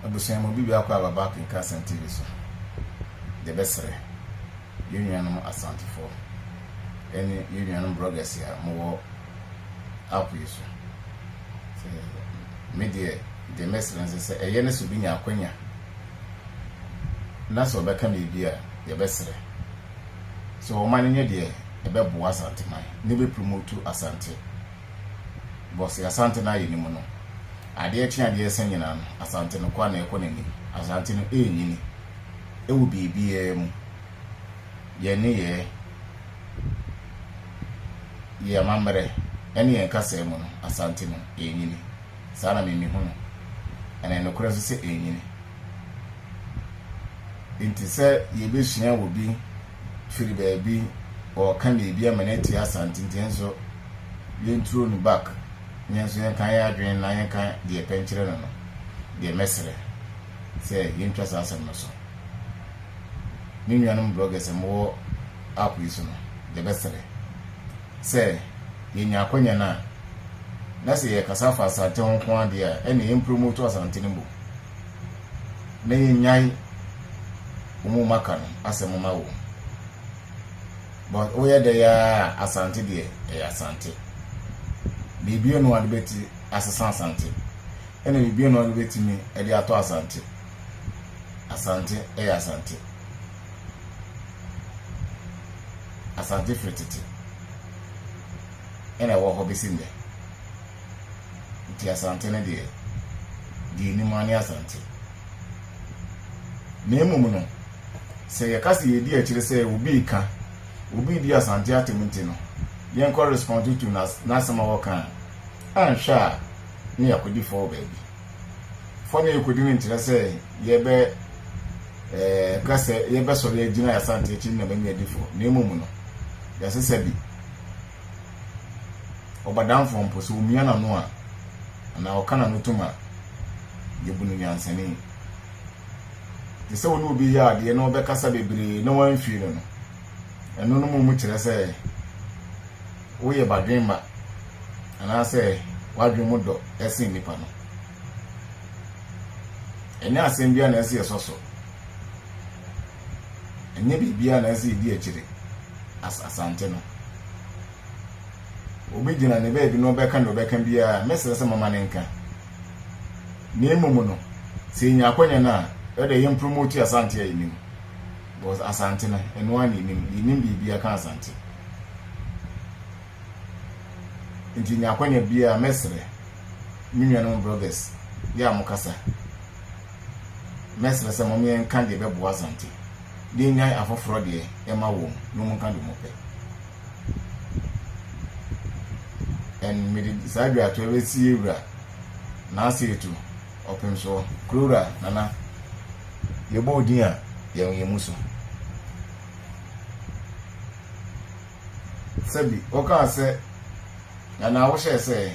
Abusua mu obi biako a waba akenka Asɛm TV so, yɛbɛsrɛ yɛn nuanom Asantefoɔ ne yɛn nuanom bloggers a mowɔ app yi so. Me deɛ, deɛ mɛsrɛ nso sɛ ɛyɛ ne sɛ obi nya akwanya na sɛ ɔbɛka biribi a yɛbɛsrɛ sɛ wɔma no nyɛ deɛ ɛbɛboa Asanteman ne bɛpromotu Asante Bcause Asante no ayɛ ne mu no, adeɛ kye adeɛ sa nyinaa no, Asante no kwa na ɛkɔ n'anim. Asante no ɛrenyini wɔ biribiara mu. Yɛn nneyɛɛ, yɛn amammerɛ ne yɛn kasaa mu no, Asante no ɛrenyini. Saa na me mehu no. Ɛna ɛyɛ nokorɛ nso sɛ ɛrenyini. Nti sɛ yɛbɛsua wɔ bi, firi baabi ɔɔka na ebi ama no atie Asante nti yɛnso yɛnturo no back na yɛnso yɛnka yɛn adwene na yɛnka deɛ yɛpɛ nkyerɛ no no deɛ mɛsrɛ sɛ yɛntwa saa asɛm no so ne nuanom bloggers a mowɔ app yi so no yɛbɛsrɛ sɛ yɛnya akwanya no a na sɛ yɛkasa fa Asante ho nko adeɛ a ɛne yɛmpromoto Asante no mu na yɛnyae wo mu maka no asɛm ma wo but woyɛ dɛ yaa a asante deɛ ɛyɛ asante biribiara no ade bɛti asesa asante ɛna biribiara no ade bɛtumi ɛde atɔ asante asante ɛyɛ asante asante firi tete ɛna ɛwɔ hɔ bɛsi nnɛ Nti Asante no deɛ, di anim ara ne Asante. Na mmom no, sɛ yɛka sɛ yɛdi akyire sɛ obi reka, obi redi Asante atem nti no, yɛnkɔ respond to to n'asɛm a ɔka a, anhwɛ a na yɛakɔdi fɔ wɔ baabi. Fɔ no a yɛkɔdi no nkyerɛ sɛ yɛbɛ eh, ka sɛ yɛbɛsɔre agyina Asante akyi no na manya adi fɔ, na mmom no, yɛasesa bi. ɔbadamfoɔ mpo, sɛ ɔmia n'ano a, anaa ɔka n'ano tom a, yɛbu no nyansani. Te sɛ wo ne obi reyɛ adeɛ na ɔbɛkasa bebree na woamfie no no, ɛno no mmom kyerɛ sɛ woyɛ badwemma anaasɛ w'adwene mu dɔ sen nnipa no. Ɛnyɛ asɛm biara na ɛsɛ sɛ yɛsɔ so. ɛnyɛ biribiara na ɛsɛ yɛdi akyire as Asante no. Obi gyina ne baabi na ɔbɛka deɛ ɔbɛka biara, mɛsrɛ sɛ mama ne nka. Na mmom no, sɛ yɛnya akwanya no a, ɛdɛ yɛn promote Asante a yɛnim. Because Asante no, ɛno ara na yɛnim, yɛnim biribiara ka Asante. Nti yɛnya akwanya biara, mɛsrɛ me nuanom bloggers, yɛ a mokasa. Mɛsrɛ sɛ mom yɛnka deɛ ɛbɛboa Asante de anyan afoforɔ deɛ ɛma wɔn no monka deɛ mopɛ and mede saa dwatoɔ bɛsie wura Naaseetu Ɔpemsoɔ, Kurowura Nana yɛbɔ wo din a yɛn yɛn mu so. Sɛbi ɔkaa sɛ, Nana wohyɛɛ sɛ ɛ?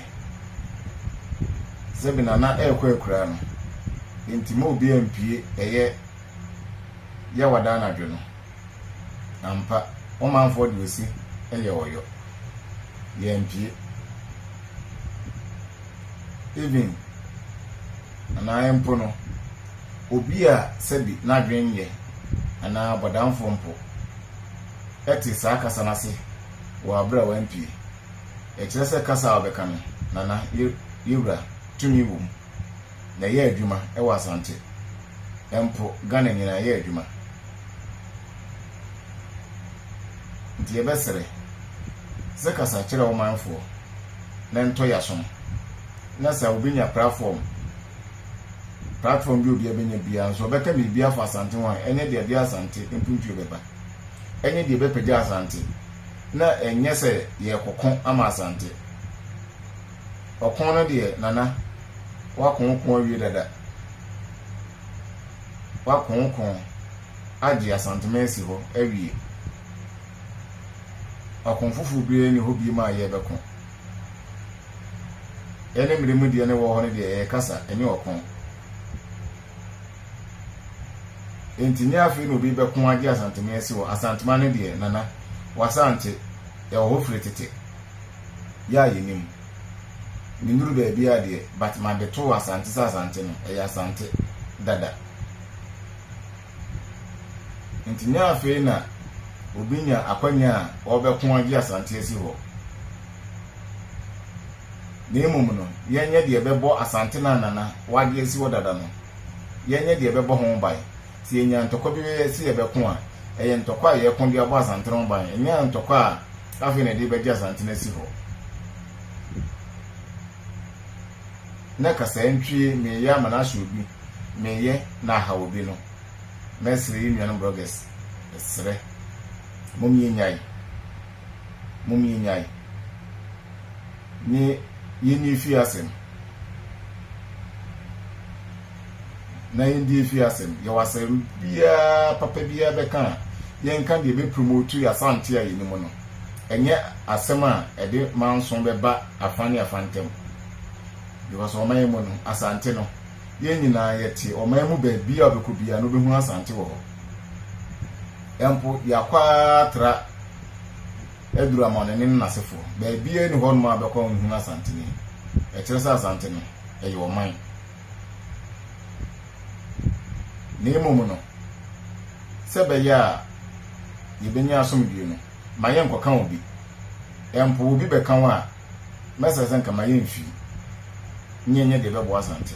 Sɛbi Nana ɛɛkɔ akuraa no, enti ma obiaa mpue ɛyɛ Yawada anadwo no. Ampa, ɔmanfoɔ de ɔsi ɛyɛ ɔyɔ. Yɛampue. Even anaa ɛmpo no, obi a sɛbi n'adwene nyɛ anaa bɔdamfoɔ mpo. te saa kasa no ase wɔ aber a ɔammpue. Ɛkyerɛ sɛ kasa a ɔbɛka no na na Yewura tumi wɔ mu, na ɛyɛ adwuma wɔ Asante, mpo Ghana nyina ɛyɛ adwuma. Nti yɛbɛsrɛ sɛ kasa kyerɛ wo manfoɔ na ntɔ yasom, na sɛ wobɛnya prafɔm, platform bi a obiara bɛnya biara nso ɔbɛka biribi afa Asante ho a, ɛnyɛ deɛ ɛde Asante mpuntuo bɛba. ne deɛ ɛbɛpagya Asante na ɛnyɛ sɛ yɛrekɔko ama Asante. Ɔko no deɛ, Nana, woako wo ko awie dada. Woako wo ko agye Asanteman asi hɔ awie. Ɔko foforɔ biara nni hɔ biom a yɛrebɛko. Yɛne mmere mu deɛ na ɛwɔ hɔ no deɛ ɛyɛ kasa, ɛnyɛ ɔko. Enti nyɛ afei na obi bɛko agye Asantema asi hɔ. Asantema no deɛ, Nana, wɔasan te. Yɛwɔ hɔ firi tete. Yɛ a yɛnim. Mennuru baabiara deɛ, but made too Asante sɛ Asante no, ɛyɛ Asante dada. Enti nyɛ afei na obi nya akwanya a ɔrebɛko agye Asante asi hɔ. Na mmom no, yɛnyɛ deɛ ɛbɛbɔ Asante no a Nana wagye asi hɔ dada no, yɛnyɛ deɛ ɛbɛbɔ ho ban. Sɛ yɛnya ntɔkwa bi sɛ yɛbɛko a, ɛyɛ ntɔkwa a yɛreko de abɔ Asante no ho ban, ɛnyɛ ntɔkwa a afei na yɛde rebɛgye Asante no asi hɔ. Nnɛ kasaa ntwie meyɛ ama no ahyɛ obi, meyɛ na ahaw obi no, mɛsrɛ yɛn nuanom bloggers, mesrɛ, mom yɛnnyae. mom yɛnyae ne yɛnni efie asɛm na yɛndi efie asɛm yɛwɔ asɛm biara papa biara bɛka a yɛnka deɛ bɛpromotu yɛ asante a yɛnim no ɛnyɛ asɛm a ɛde manso bɛba afa ne afa ntam because ɔman mu no asante no yɛn nyinaa yɛte ɔman mu baabi a ɔbɛkɔ biara no bɛhu asante wɔ hɔ mpo de akɔ ara tra aduru Amanɔne no n'asefoɔ. Baabiara nni hɔnom a bɛkɔ a wɔnhunu Asanteni. Ɛkyerɛ sɛ Asante no, ɛyɛ ɔman. Na mmom no, sɛ ɛbɛyɛ a yɛbɛnya asomdwoe no, ma yɛnkɔka obi. Mpo obi bɛka wo a, mɛsrɛ sɛ nka ma yɛmfii, nyɛ nyɛ deɛ ɛbɛboa Asante.